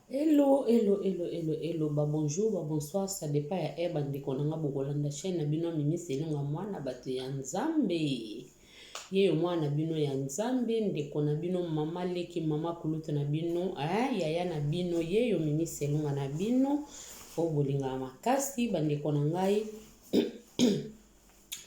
Hello, hello, hello, hello, hello. Ba bonjour, ba bonsoir, ça dépend ya heure bandeko na nga bokolanda chaîne na bino Mimi Selonga mwana bato ya Nzambe. Ye yo mwana bino ya Nzambe, ndeko na bino, mama leki, mama kulutu na bino, eh, yaya na bino, ye yo Mimi Selonga na bino, oyo bolingaka makasi bandeko na ngai.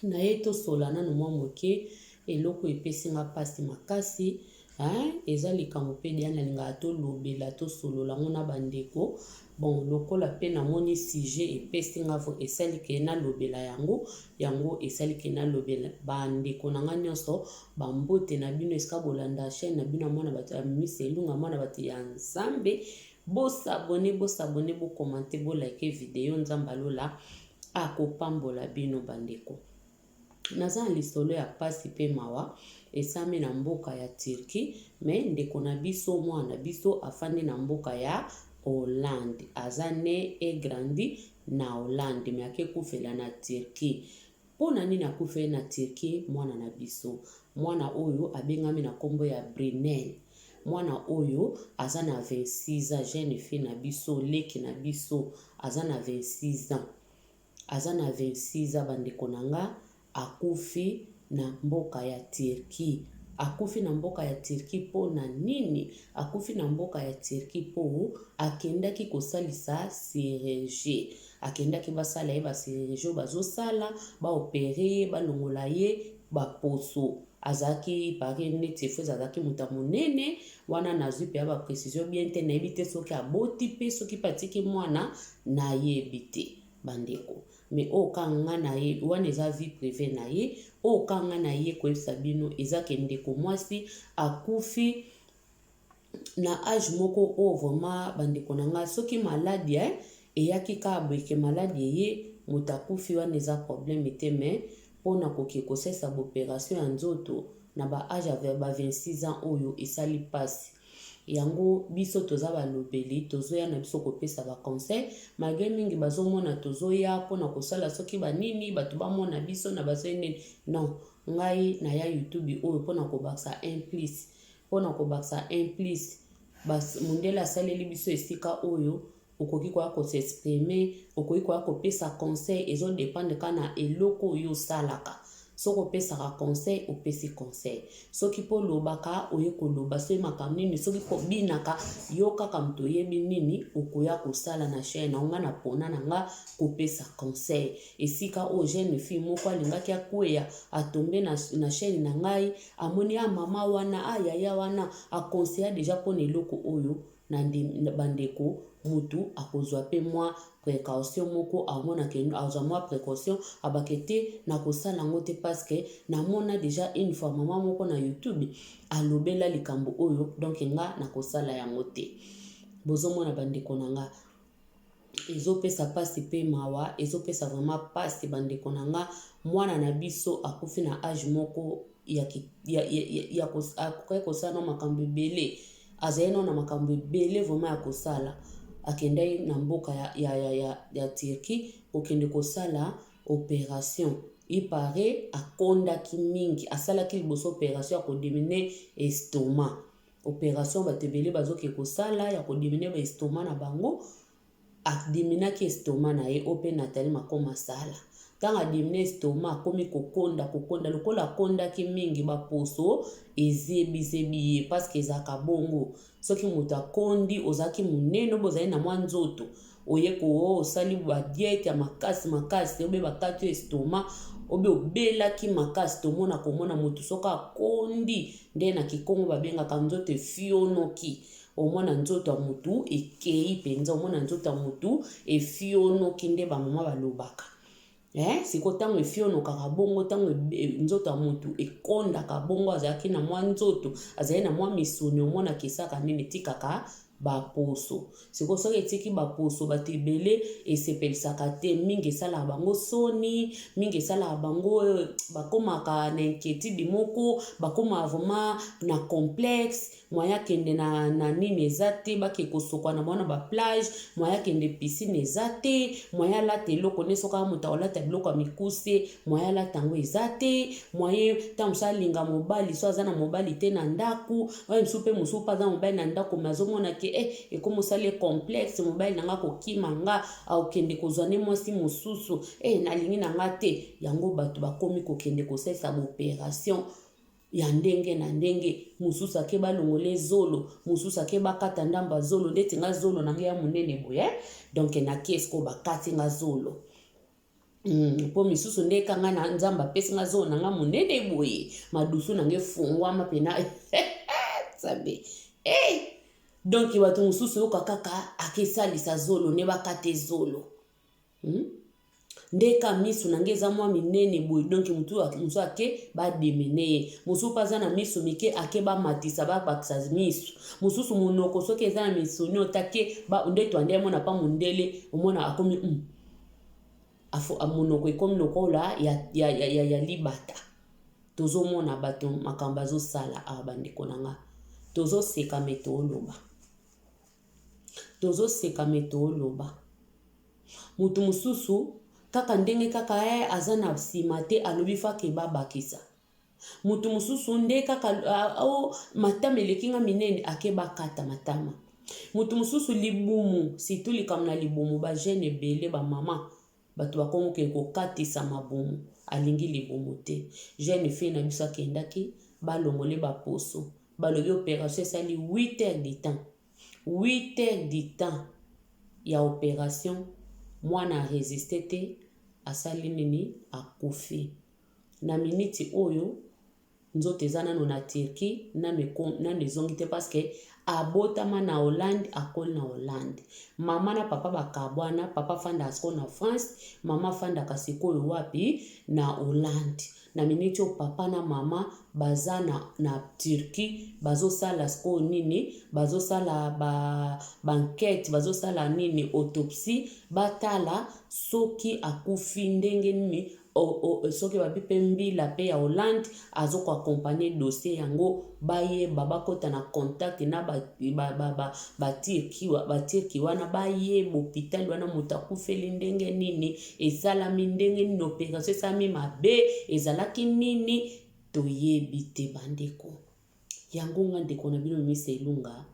na ye tosola nanu mwa moke eloko epesi nga mpasi makasi hein? eza likambo mpe deya nalingaka tolobela tosolola yango na bandeko bon lokola mpe namoni sujet epesi nga vo esali ke nalobela yango yango esali ke nalobela bandeko na nga nyonso bambote na bino esika bolanda chaine na bino ya mwana bato ya misa elunga mwana bato ya nzambe bosabone bosabone bokomante bolike video nzambe alola akopambola bino bandeko. Naza na lisolo ya pasi pe mawa esami na mboka ya Turquie mais ndeko na biso mwana na biso afandi na mboka ya Hollande aza ne et grandi na Hollande mais ake kufela na Turquie. Pona nini akufeli na Turquie mwana na biso? Mwana oyo abengami na kombo ya Brunel. Mwana oyo aza na 26 ans jeune fille na biso leki na biso aza na 26 ans aza na 26 ans bandeko na nga akufi na mboka ya Turquie akufi na mboka ya Turquie mpo na nini akufi na mboka ya Turquie mpo akendaki kosalisa chirurgie akendaki basala ye ba chirurgie oyo bazosala baopere ye balongola ye baposo azalaki pari neti efose azalaki moto ya monene wana nazwi mpenza baprecision bien te nayebi te soki aboti mpe soki mpe atiki mwana nayebi te bandeko me oyo ka nga na ye wana eza vie prive na ye oyo ka nga na ye koyebisa bino eza ke ndeko mwasi akufi na age moko oyo vraiment bandeko na ngai soki maladi eh, eyaki kaka boye ke maladi eye moto akufi wana eza probleme te me mpo na koke kosalisa baoperation ya nzoto na ba age ya ba 26 ans oyo esali mpasi yango biso toza balobeli tozoya na biso kopesa baconseil malgre mingi bazomona tozoya mpo na kosala soki banini bato bamona biso na bazoi nini non ngai naya youtube oyo mpo na kobakisa implice Mpo na kobakisa un plus, mundele asaleli biso esika oyo okoki koya ko s'exprimer, okoki koya kopesa conseil, ezo dependre kaka na eloko oyo yo osalaka. Soki opesaka conseil, opesi conseil. Soki mpo olobaka, oye koloba. Soki makambo nini, soki mpo obinaka, yo kaka moto oyebi nini okoya kosala na chaine na yo. Nga napona na nga kopesa conseil. Esika oyo jeune fille moko alingaki akweya, a tomber na, na chaine na ngai, Amoni ah maman wana ah yaya wana a conseilla dejà pona eloko oyo na ba ndeko mutu akozua pe mua precaution moko amona que azua mua precaution aloba que te nakosala yango te parce que namona dejà une fois maman moko na youtube alobela likambo oyo donc nga nakosala yango te bozomona ba ndeko na nga Ezopesa pasi pe mawa ezopesa vraiment pasi ba ndeko na nga mwana na biso akufi na age moko ya akokaki kosala na makambo ebele azali nao na makambo ebele vraiment ya kosala akendaki na mboka ya, ya, ya, ya, ya Turquie kokende kosala operation ipare akondaki mingi asalaki liboso operation ya kodemine estoma Operation batu ebele bazo ke kosala ya ko diminuer ba estomac na bango a diminuaki estomac na ye oyo pe Nathalie Makom asala ntango a diminuer estomac akomi kokonda kokonda lokola akondaki mingi ba poso ezebi zebi ye parce que ezalaka bongo soki moto akondi ozalaki munene oyo bozali na mwa nzoto oye ko osali ba diete ya makasi makasi obe bakati yo estomac obe obelaki makasi tomona komona motu soki akondi nde na kikongo babengaka nzoto efionoki omona nzoto ya motu ekei mpenza omona nzoto ya motu efionoki nde bamama balobaka Ee, sikoyo ntango efionokaka bongo, ntango e, e, nzoto ya moto ekondaka bongo, azalaki na mwa nzoto, azali na mwa misuni, omonaka esaka nini? Etikaka baposo. Sikoyo soki etiki baposo, bato ebele esepelisaka te, mingi esalaka bango soni, mingi esalaka bango eh, bakomaka na inquiétude moko, bakomaka vraiment na complexe. Moyen akende na, na nini eza te, bake kosokwana bango na ba plage, moyen akende piscine eza te, moyen alata eloko nde soki aa moto akolata biloko ya mikuse, moyen alata yango eza te, moyen ntango mosusu alinga mobali so aza na mobali te na ndako, oyo mosusu mpe mosusu mpe aza mobali na ndako me azomona ke eh, ekomi osali ye complexe, mobali na nga akokima nga, akokende kozwa nde mwasi mosusu, eh nalingi na nga te. Yango bato bakomi kokende kosalisa ba operation ya ndenge na ndenge mosusu ake balongole zolo mosusu ake bakata ndambo ya zolo ndeti nga zolo na ngai ya monene boye donk nake siko bakati nga zolo Mm, mpo misusu nde kanga na nzambe apesi nga zolo na nga monene boye madusu na nga efungwama mpena nzambe hey! Eh! donk bato mosusu oyoka kaka akesalisa zolo nde bakate zolo Hmm? nde ka miso na ngai eza mwa minene boye donk motu mosusu ake bademene ye mosusu mpe aza na miso mike ake bamatisa babakisa miso mosusu monoko soki eza na misoni otake nde twande amona mpa mondele omona akomi mm. Afo, monoko ekomi lokola ya, ya, ya, ya, ya libata tozomona bato makambo azosala awa bandeko na ngai tozoseka me tooloba Tozo seka mais too loba. Mutu mususu kaka ndenge kaka eh aza na sima te alobi fa ke ba bakisa. Mutu mususu nde kaka oh matama eleki nga minene ake ba kata matama. Mutu mususu libumu surtout likambo na libumu ba jeune ebele ba maman Batu bakomi ke kokatisa mabumu alingi libumu te jeune fille na biso akendaki balongole ba poso balobi operation esali huit heures du temps huit heures du temps ya operation mwana a resiste te asali nini akufi na minute oyo nzoto eza nanu na Turquie nanu eko nanu ezongi te parce que abotama na Hollande akoli na Hollande mama na papa bakabwana papa afandaka sikoyo na France mama afandaka sikoyo wapi na Hollande na miniti oyo papa na mama baza na, na Turquie bazosala sikoyo nini bazosala ba bankete bazosala nini autopsie batala soki akufi ndenge nini soki babi mpe mbila mpe ya hollande azo ko accompagne dossier yango bayeba bakota na contact na batirki wana bayeba hopitali wana moto akufeli ndenge nini esalami ndenge nini operation esalami mabe ezalaki nini toyebi te bandeko Yango nga ndeko na bino Mister Ilunga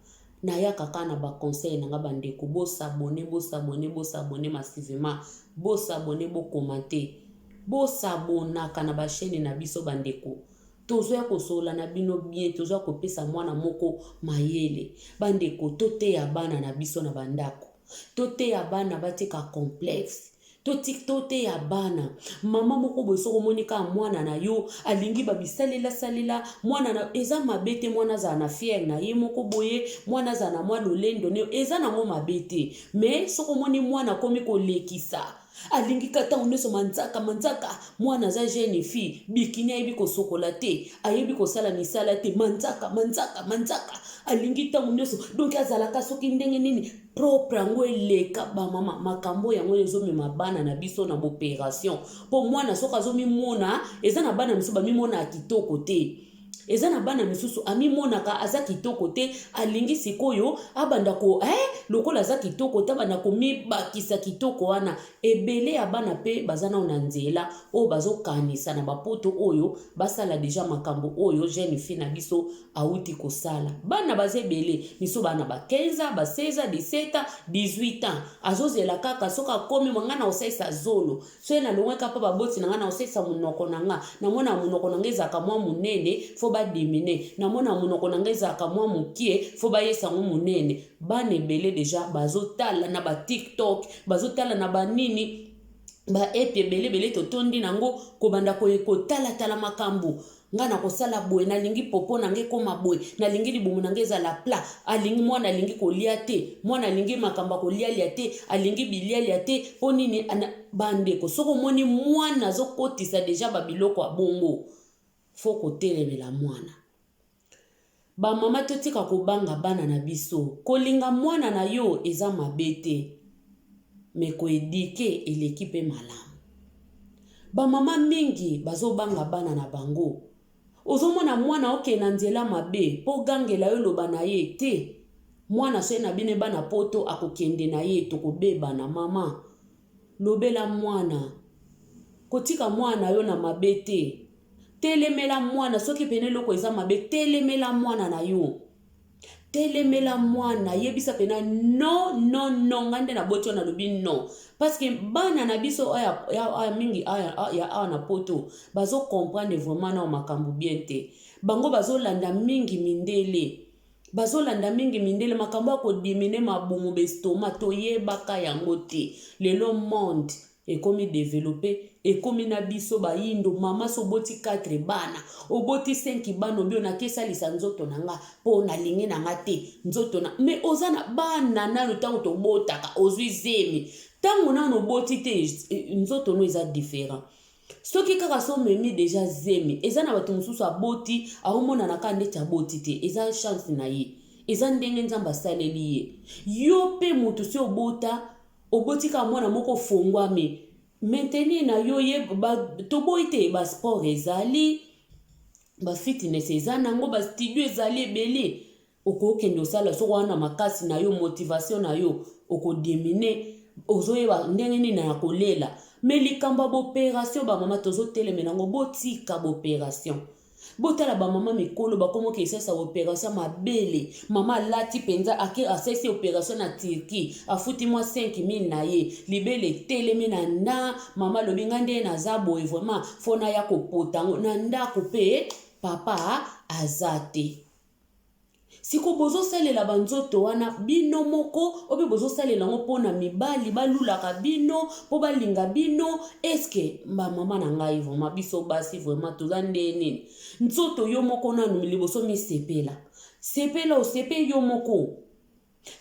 nayaka kaka na ba conseil na nga ba ndeko bo s'abonner bo s'abonner bo s'abonner massivement bo s'abonner bo commenter bo s'abonnaka na ba chaine na biso ba ndeko tozoya kosolola na bino bien tozoya kopesa mwana moko mayele ba ndeko toteya bana na biso na ba ndako toteya bana batika complexe totik toteya bana mama moko boye soki omoni kaka mwana na yo alingi bamisalela salela mwana na eza mabe te mwana azala na fiere na ye moko boye mwana azala na mwa lolendo ne eza nango mabe te me soki omoni mwana akomi kolekisa alingi ka ntango nyonso manzaka manzaka mwana aza jeune fille bikini ayebi kosokola te ayebi kosala misala te manzaka manzaka manzaka alingi ntango nyonso donki azalaka soki ndenge nini propre yango eleka bamama makambo yango oyo ezomema bana na biso na boperation mpo mwana soki azomimona eza na bana mosusu bamimona ya kitoko te eza na bana misusu amimonaka aza kitoko te alingi sikoyo abanda ko eh, lokola aza kitoko te abanda komibakisa kitoko wana ebele ya bana mpe baza nao na nzela oyo bazokanisa na bapoto oyo basala deja makambo oyo jeune fille na biso awuti kosala bana baza ebele miso bana ba 15 ans ba 16 ans 17 ans 18 ans azozela kaka soki akomi mwa ngai na kosalisa zolo so ye nalongwe kaka mpo baboti na ngai na kosalisa monoko na ngai namona monoko na ngai ezalaka mwa monene fo badimine namona monoko na ngai ezalaka mwa mokie fo bayesa yango monene bana ebele deja bazotala na batiktok bazotala na banini baepe ebele ebele totondi na yango kobanda koye kotalatala makambo Nga nakosala boye, nalingi popo na nga ekoma boye, nalingi libumu na nga ezala plat, alingi mwana alingi kolia te, mwana alingi makambo ya kolialia te, alingi bilialia te, po nini ana... Bandeko, soki omoni mwana azokotisa deja ba biloko ya bongo, faut kotelemela mwana. Ba maman totika kobanga bana na biso kolinga mwana na yo eza mabe te mais ko eduque eleki pe malamu ba maman mingi bazobanga bana na bango ozomona mwana oke na nzela mabe po gangela yo loba na ye te mwana soki na bino ebana poto akokende na ye tokobebana maman lobela mwana kotika mwana na yo na mabe te Telemela mwana soki pene eloko eza mabe telemela mwana na yo. Telemela mwana yebisa pena no no no nga nde naboti yo nalobi no parce que bana na biso oyo ya, ya, mingi ya awa na poto bazo comprendre vraiment nao makambo bien te bango bazolanda mingi mindele bazolanda mingi mindele makambo ya kodimine mabumu bestoma toyebaka yango te lelo monde Ekomi developpe ekomi na biso ba yindo maman si oboti quatre bana oboti cinq bana obi ona ke salisa nzoto na nga po na lingi na nga te nzoto na mais oza na bana nanu tango tobotaka ozui zemi tango nanu oboti te nzoto no eza different soki kaka so memi deja zemi eza na bato mosusu aboti aomonana kaka ndeti aboti te eza chance na ye eza ndenge nzambe asaleli ye yo pe moto si obota Oboti kaka mwana moko ofonguami maintenir na yo ye ba, toboyi te ba sport ezali ba fitness eza nango ba studio ezali ebele okokende osala soko wana makasi na yo motivation na yo okodimine ozoyeba ndenge nini na kolela me likambo ya boperation bamama tozotelemela yango botika boperation botala ba mama mikolo bakomi okesalisa operation ya mabele mama alati mpenza ake asalisi operation na turquie afuti mwa 5000 na ye libele etelemi na nda mama alobi ngai nde naza boye vraiment fo naya kopota yango na ndako mpe papa aza te siko bozosalela banzoto wana bino moko ope bozosalela yango mpo na mibali balulaka bino mpo balinga bino eske bamama na ngai vraimen biso basi vraimen toza nde nini nzoto yo moko nanu liboso misepela sepela osepe yo moko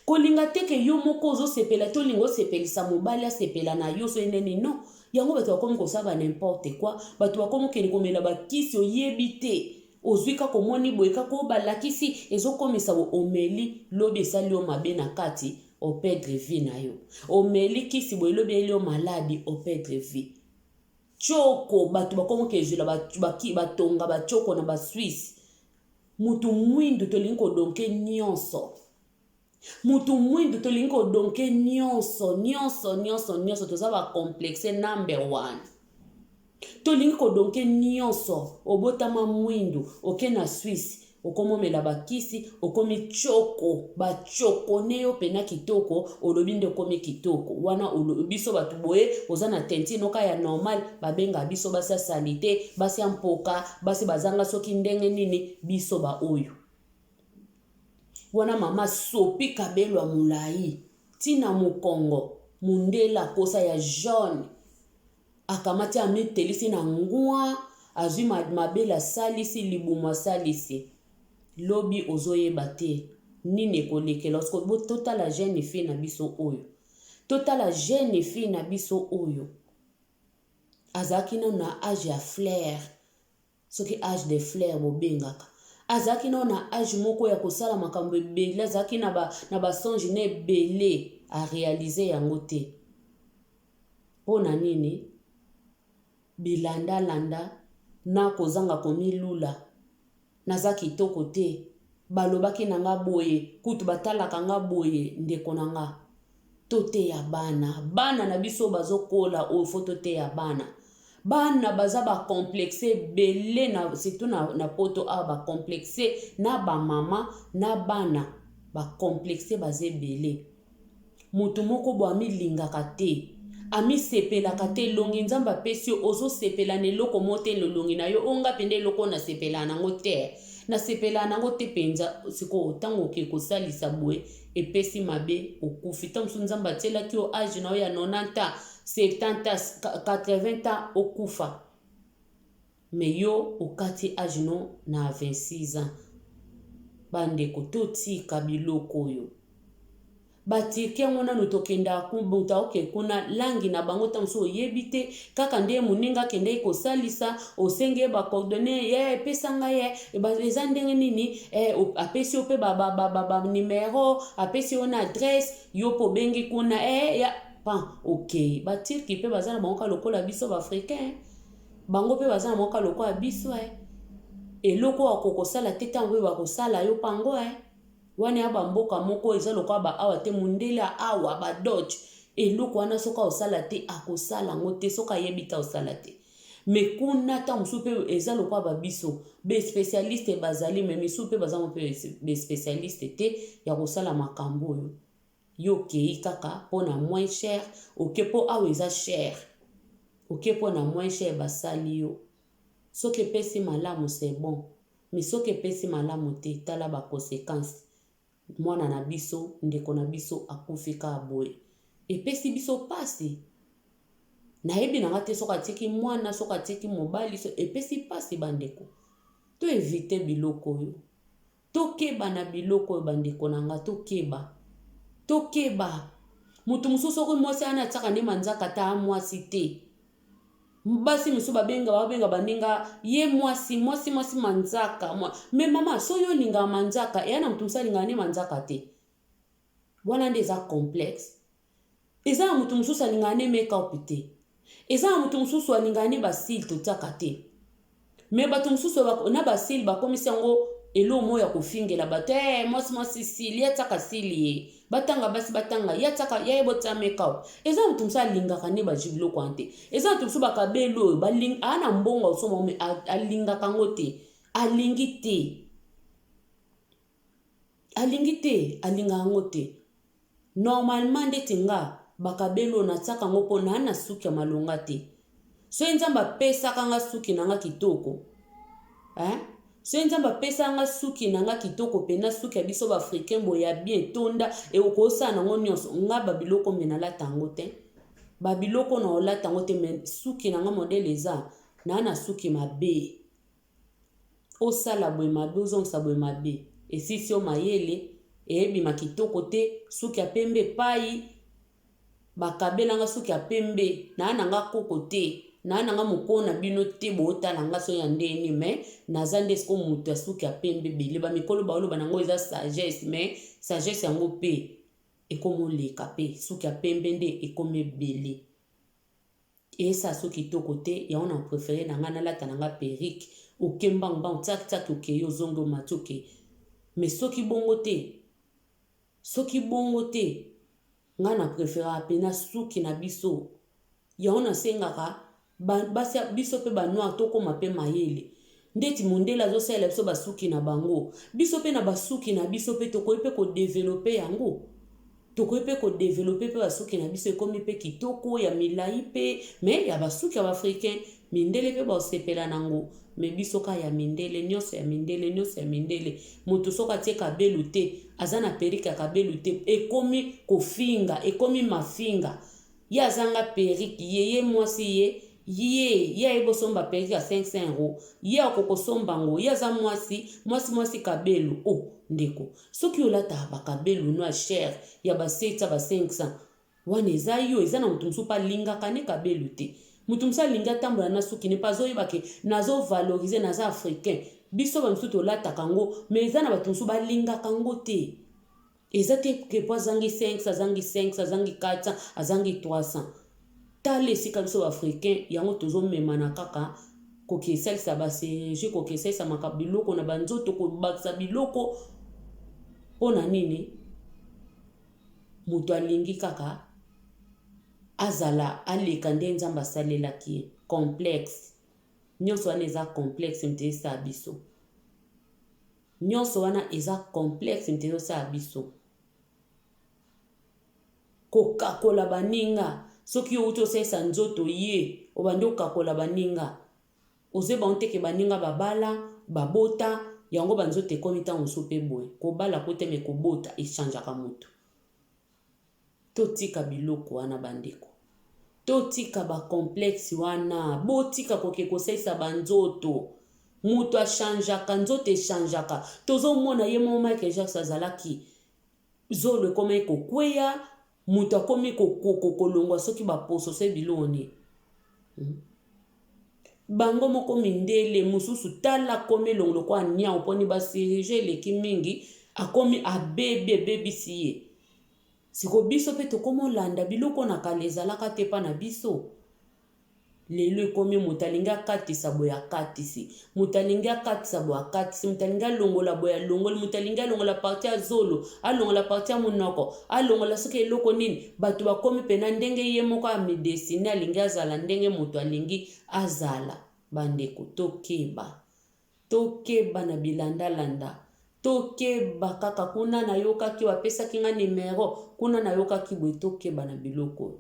Kolinga te ke yo moko ozo sepela te olinga osepelisa mobali asepela na yo soki nde nini non yango bato bakomi kosala ba n'importe quoi bato bakomi okende komela ba kisi oyebi te ozwi kaka omoni boye kaka oyo balakisi ezokomisa bo omeli lobi esali yo mabe na kati opedre vie na yo omeli kisi boye lobi eyeli yo maladi opedre vie choko bato bakomi kezwela batonga bachoko na ba swisse Mutu muindu tolingi ko donke nionso. Mutu muindu tolingi ko donke nionso, nionso, nionso, nionso. Toza ba complexe number one. Tolingi ko donke nionso. Obotama muindu, oke na Suisse, okomomela bakisi, okomi choko, ba choko ne yo pena kitoko, olobi nde okomi kitoko. Wana olo, biso batu boye, oza na teinture noka ya normal, babenga biso basi ya salite, basi ya mpoka, basi bazanga soki ndenge nini biso baoyo wana mama sopi kabelo ya molai ntina mokongo mondela kosa ya jaune akamati amitelisi na ngwa azwi mabele asalisi libumu asalisi lobi ozoyeba te nini ekolekela osikobo totala jeune fille na biso oyo totala jeune fille na biso oyo azalaki nano na age ya flair soki age de flair bobengaka azalaki nano na age moko ya kosala makambo ebele azalaki na ba, na ba songe na ebele arealize yango te mpo na nini bilandalanda na kozanga komilula Naza kitoko te. Balobaki na nga boye, kutu batalaka nga boye, ndeko na nga. Toteya bana. Bana na biso bazo kola oyo faut toteya bana. Bana baza ba complexes ebele na surtout na na poto awa ba complexes na ba maman na bana ba complexes baza ebele. Mutu moko boye amilingaka te amisepelaka te elongi nzambe apesi yo ozosepela na eloko mo te na elongi na yo oyo nga mpenza eloko oyo nasepelaa nango te nasepelaa nango te mpenza sikoyo ntango oke kosalisa boye epesi mabe okufi ntango mosusu nzambe atielaki yo age na yo ya 90 ans 70 ans 80 ans okufa Mais yo okati age no na 26 ans ba ndeko totika biloko oyo ba turque yango nanu tokendaka ku mutu aoke kuna langue na bango tango mosusu oyebi te kaka nde moninga akendeki kosalisa osengi ye ba coordonne ye epesa ngai ye eza ndenge nini eh, apesi yo mpe ba, ba, ba, ba, ba numero apesi yo na adresse yo mpe obengi kuna eh, ya pan okei okay. baturki mpe baza na bango ka lokola biso baafricain eh. Bango pe baza na mwa ka lokola biso eh Eloko oyo ako kosala te tango oyo bako sala yo pango eh Wana ea ba mboka moko eza lokola ba awa te mundele a awa ba dodge Eloko wana soki ao sala te ako sala ngo te soki ayebi te ao sala te Mais kuna tango mosusu pe eza lokola ba biso Be specialiste bazali mais misusu pe baza ngo pe be specialiste te ya kosala makambo oyo Yo okeyi kaka pona moins cher oke po awa eza cher oke pona moins cher basali yo soki epesi malamu c'est bon mais soki epesi malamu te tala ba consequences mwana na biso ndeko na biso akufi kaka boye epesi biso pasi nayebi na nga te soki atiki mwana soki atiki mobali so epesi pasi ba ndeko to eviter biloko oyo Tokeba na biloko oyo bandeko na nga tokeba tokeba mutu mosusu soki mwasi ayani atiaka nde manzaka ata mwasi te basi mosusu babenga babenga baninga ye mwasi mwasi mwasi manzaka mwa... me mama so yo olingaka manzaka eya na motu mosusu alingaka nde manzaka te wana nde eza complexe Eza na mutu mususu alingaka ne make up te. Eza na mutu mususu alingaka ne ba cils totiaka te. Mais batu mususu na ba cils bakomisi yango eloko moko ya kofingela bato ee eh, mwasi mwasi sili ye atiaka sili ye batanga basi batanga ye atiaka ye ayeba otia makeup eza moto mosusu alingaka nde bazwi biloko wana te eza moto mosusu bakabeli oyo aa na mbongo asomba me alingaka yango te alingi te alingi te alinga yango te normalement ndeti nga bakabelo natiaka yango mpo naa na suki ya malonga te soki nzambe apesaka nga suki na nga kitoko eh? soki nzambe apesaka nga suki na nga kitoko mpena suki ya biso baafricain boye ya bien etonda ekokosala nango nyonso nga babiloko me nalata yango te babiloko na olata yango te me suki na nga modele eza naa na suki mabe Osala boye mabe ozongisa boye mabe esisi yo mayele eebima kitoko te suki ya pembe epayi bakabela nga suki ya pembe naa na nga koko te naa na nga mokoo na bino te bootala nga soki ya ndenge nini me naza nde siko moto ya suki ya pembe ebele ba mikolo baoloba nango eza sagesse me sagesse yango pe ekomoleka pe suki ya pembe nde ekomi ebele. Eeh Sassou kitoko te yango na prefere na nga nalata na nga perruque oke mbangu mbangu tsak tsak okeyi ozongi omati oke mais soki bongo te soki bongo te nga na preferaka pena suki na biso yango nasengaka ba basi ya biso pe ba noir tokoma pe mayele Ndeti mondele azosalela biso ba suki na bango, biso pe na ba suki na biso pe tokoki pe ko developer yango. Tokoki pe ko developer pe ba suki na biso ekomi pe kitoko ya milayi pe mais ya ba suki ya ba africains mindele pe bakosepela nango mais biso ka ya mindele nionso ya mindele nionso ya mindele mutu soki atie kabelu te aza na perruque ya kabelu te ekomi kofinga ekomi mafinga Ye azanga perruque ye ye mwasi ye ye ye ayebi osomba perruque ya 500 euro ye akoko somba ngo ye aza mwasi mwasi mwasi cabelo oh ndeko soki olataka ba cabelo no ya cher ya ba 700 ba 500 wana eza yo eza na mutu mususu pe alingaka ne cabelo te mutu mususu alingi atambola na suki ne pe azoyeba ke nazo valorise naza africain biso ba misusu tolataka ngo mais eza na batu mususu balingaka ngo te Eza te que po azangi 500, azangi 500, azangi 400, azangi 300. Tala esika biso ba africains yango tozo memana kaka kokesalisa ba chirurgie, kokesalisa maka biloko na ba nzoto, kobakisa biloko po na nini? Moto alingi kaka azala aleka nde Nzambe asalelaki ye. Complexe. Nyonso wana eza complexe moto esala biso. Nionso wana eza complexe nte ezo sala biso. Kokakola baninga, soki yo owuti osalisa nzoto ye obandi okakola baninga. Ozo yeba ngo te ke baninga ba bala, ba bota, yango ba nzoto ekomi tango mosusu pe boye. Kobala ko te mais kobota e changeaka mutu. Totika biloko wana ba ndeko. Totika ba complexe wana. Botika koke kosalisa ba nzoto. Moto a changeaka, nzoto e changeaka. Tozo mona ye moko Michael Jackson azalaki zolo ekomaki ko kweya, moto akomi ko kolongwa soki ba poso soki biloko nini. Hum. bango moko mindele mosusu tala akomi elongo lokola niau mponi basirige eleki mingi akomi abebi ebebisi ye siko biso mpe tokomi olanda biloko na kala ezalaka te mpa na biso lelo ekomi moto alingi akatisa boye akatisi moto alingi akatisa boye akatisi moto alingi alongola boye alongoli moto alingi alongola parti ya zolo alongola parti ya monoko alongola soki eloko nini bato bakomi mpena ndenge ye moko amidesine alingi azala ndenge moto alingi azala bandeko tokeba tokeba na bilandalanda tokeba kaka kuna nayokaki bapesaki nga nimero kuna nayokaki boye tokeba na biloko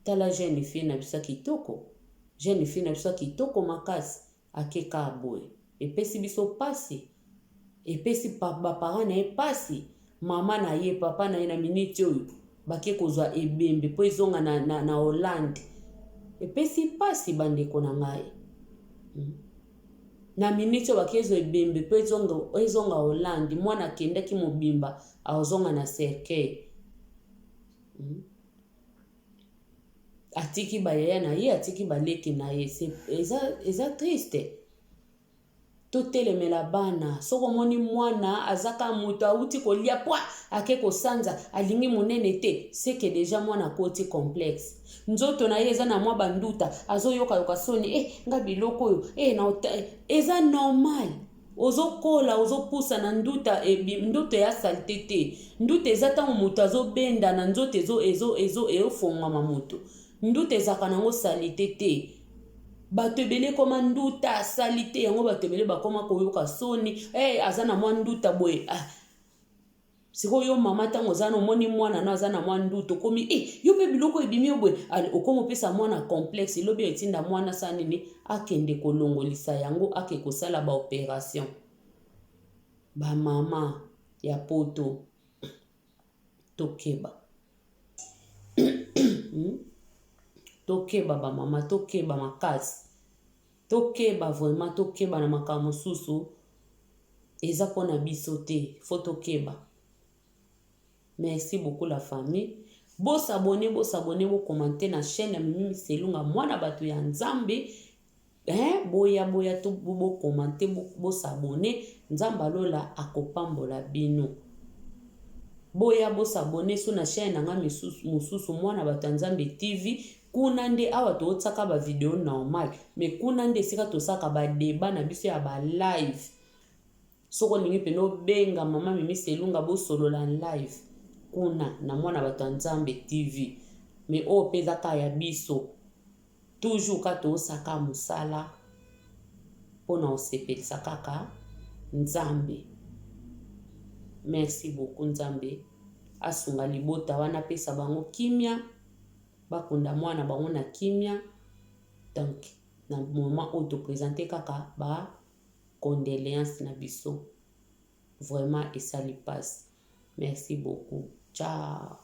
tala jeune fille na biso kitoko jeune fille na biso kitoko makasi Ake kaka boye epesi biso pasi epesi ba parents na ye pasi maman na ye papa na ye na minute oyo bake kozwa ebembe mpo ezonga na, na, na Hollande epesi pasi bandeko na ngai hmm. na minute oyo bake ezwa ebembe mpo ezonga, ezonga Hollande mwana akendaki mobimba akozonga na cercueil hmm. atiki ba yaya na ye atiki ba leki na ye eza eza triste totelemela bana soki omoni mwana azaka moto awuti kolia pwa ake kosanza alingi monene te seke deja mwana akoti complexe nzoto na ye eza na mwa banduta azoyokayoka soni e eh, nga biloko oyo e eh, na eza normal ozo kola ozo pusana nduta ebi nduta ya salite te nduta eza ntango moto azobenda na nzoto ezo ezo ezo eofongwama moto nduta ezalaka nango salite te bato ebele ekoma nduta salite yango bato ebele bakoma koyoka soni hey, aza na mwa nduta boye ah. sikoyo yo mama ntango oza na omoni mwana no aza na mwa ndutu okomi e eh, yo mpe biloko ebimi yo boye okomi opesa mwana complexe elobi oyo etinda mwana sa nini akende kolongolisa yango ake kosala baoperation bamama ya poto tokeba hmm? tokeba bamama tokeba makasi Tokeba vraiment tokeba na makambo mosusu eza pona biso te faut tokeba merci beaucoup la famille bo s'abonner bo s'abonner bo commenter na chaîne ya mimi miselunga mwana bato ya nzambe hein boya boya to bo, bo commenter bo, bo s'abonner nzambe alola akopambola bino boya bo s'abonner so na chaîne na nga misusu mwana bato ya nzambe tv Kuna nde awa to tsaka ba video normal mais kuna nde esika to saka ba debat na biso ya ba live soki olingi pene obenga mama mimi selunga bosolola live kuna na mwana bato ya nzambe tv me oyo mpe eza kaka ya biso toujours ka toosaka mosala mpo na osepelisa kaka nzambe merci beaucoup nzambe asunga libota wana apesa bango kimia bakunda muana bango na kimia donc na moment oyo to presenter kaka ba condoleances na biso vraiment esali pasi merci beaucoup ciao.